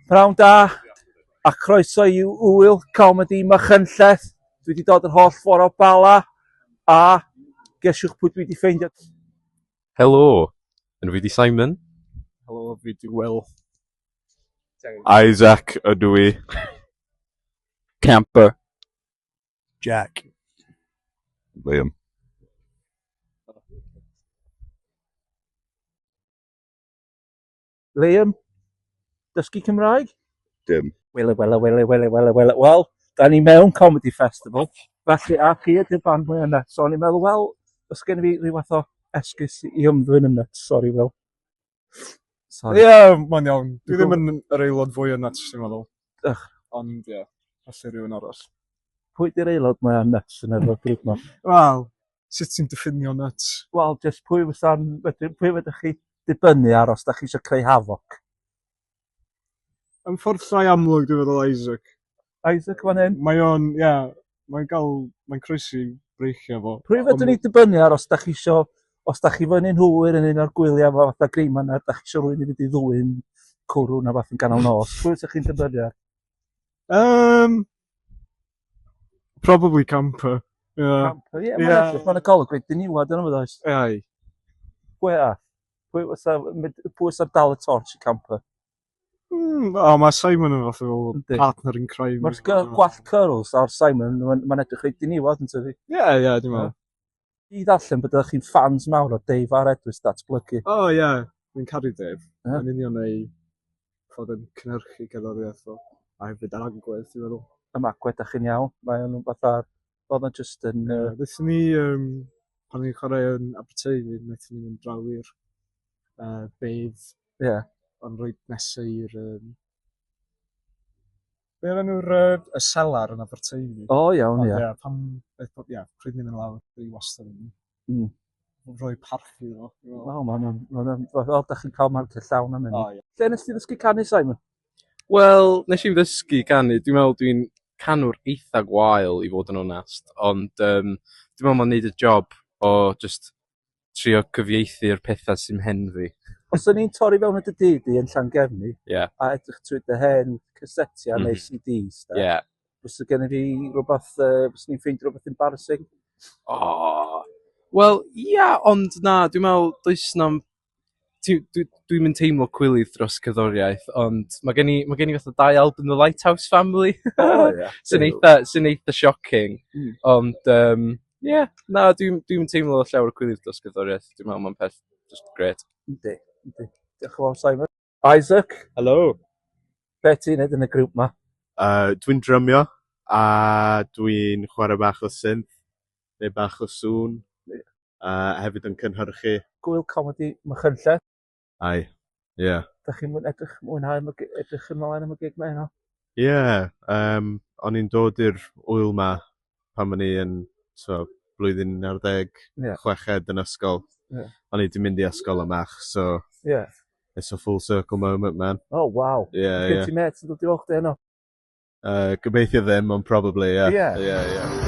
Prawn da a croeso i Ŵyl Comedi Machynlleth. Dwi wedi dod yr holl ffordd o Bala a gesiwch pwy dwi wedi ffeindio. Helo, yn fi di Simon. Helo, fi di Will. Isaac ydw i. Camper. Jack. Liam. Liam, dysgu Cymraeg? Dim. Wele, wele, wele, wele, wele, wele. Wel, da ni mewn Comedy Festival. Felly, a chi ydy'r band mwy yna. So, o'n i'n meddwl, wel, os gen i fi rhyw fath o esgus i ymddwyn yn nuts. Sorry, Will. Sorry. Ie, yeah, mae'n iawn. Dwi ddim yn yr aelod fwy yn nuts, dwi'n meddwl. Ych. Ond, ie, yeah, felly rhywun arall. Pwy di'r aelod mwy yn nuts yn yr grwp ma? Wel, sut ti'n diffinio nuts? Wel, jyst pwy fysa'n... Wedyn, pwy fydych chi dibynnu ar os da chi eisiau creu havoc? Yn ffordd llai amlwg, dwi'n meddwl Isaac. Isaac fan hyn? Mae o'n, ie, yeah, mae'n gael, mae'n croesi breichiau fo. Pwy fydych ni dibynnu ar os da chi eisiau, os da chi fyny'n hwyr yn un o'r gwyliau fo fatha greiman ar, da chi eisiau rwy'n i fynd i ddwy'n cwrw na fath yn ganol nos. Pwy fydych chi'n dibynnu ar? Um, Probably camper. Yeah. Camper, ie. Yeah, yeah. Mae'n edrych, mae'n y golwg wedi niwad yn ymwyd oes. Ai. Pwy a? Pwy fysa dal y torch i camper? Mm, o, mae Simon yn fath o partner in crime. Mae'r gwall curls ar Simon, mae'n edrych wedi niwad yn tyfu. Ie, ie, dim ond. Dwi 'di darllen bod ydych chi'n ffans mawr o Dave a'r Edwards Datblygu. O oh, ie, yeah. dwi'n caru Dave. Ie? Yn union ei fod yn cynhyrchu gerddoriaeth o, a hefyd ar agwedd, dwi'n meddwl. Am agwedd, da chi'n iawn. Mae o'n fath ar... Oedd o'n just yn... Ie, uh... Ddaethon ni, um, pan ni'n chwarae yn Aberteifi, wnaethon ni'n mynd draw i'r uh, bedd. Ie. Yeah. Ond roed nesau i'r... Um, Be o'r enw'r uh, y selar yn Aberteifi? O, oh, iawn, ia. Yeah. Pam, ia, pryd mynd yn lawr, dwi wastad yn mm. rhoi parchu iddo. O, mae'n o'n, mae'n o'n, o, da chi'n cael marciau llawn am hynny. Oh, yeah. Lle nes ti ddysgu canu, Simon? Wel, nes i'n ddysgu canu, dwi'n meddwl dwi'n canwr eitha gwael i fod yn onest, ond um, dwi'n meddwl mae'n neud y job o just trio cyfieithu'r petha sy'm hen fi. Os o'n i'n torri fewn at dy dŷ di yn Llangefni Ie. a edrych trwy dy hen casetiau neu Mhm. CDs de, Ie. fysa gen i fi rhywbeth, uh, fyswn i'n ffeindio rhywbeth embarrassing? O! Wel, ia, ond na, dwi'n me'wl does 'na'm ti dwi dwi'm yn teimlo cwilydd dros cerddoriaeth ond ma' gen i ma' gen i fatha dau album The Lighthouse Family o ia sy'n eitha sy'n eitha shocking hmm. ond yym ie na dwi'm dwi'm yn teimlo llawer o cwilydd dros cerddoriaeth dwi'n me'wl ma'n peth jyst grêt. Yndi yndi. Diolch yn fawr Simon. Isaac. Helo. Be' ti'n neud yn y grŵp 'ma? Yy dwi'n drymio a dwi'n chware bach o synth neu bach o sŵn. Ie. A hefyd yn cynhyrchu. Gŵyl Comedi Machynlleth. Hi. Ie. 'Dych chi'n mwy edrych mwynhau am y gi- edrych ymlaen am y gig 'ma heno? Ie yym o'n i'n dod i'r ŵyl 'ma pan o'n i yn t'o' blwyddyn un ar ddeg... Ie. ...chweched yn ysgol. Ie. O'n i 'di mynd i ysgol y Mach so... Ie. ...it's a full circle moment man. O waw. Ie ie. O's gen ti mêt yn dod i weld chdi eno? Yy gobeithio ddim ond probably ie. Ie? Ie ie.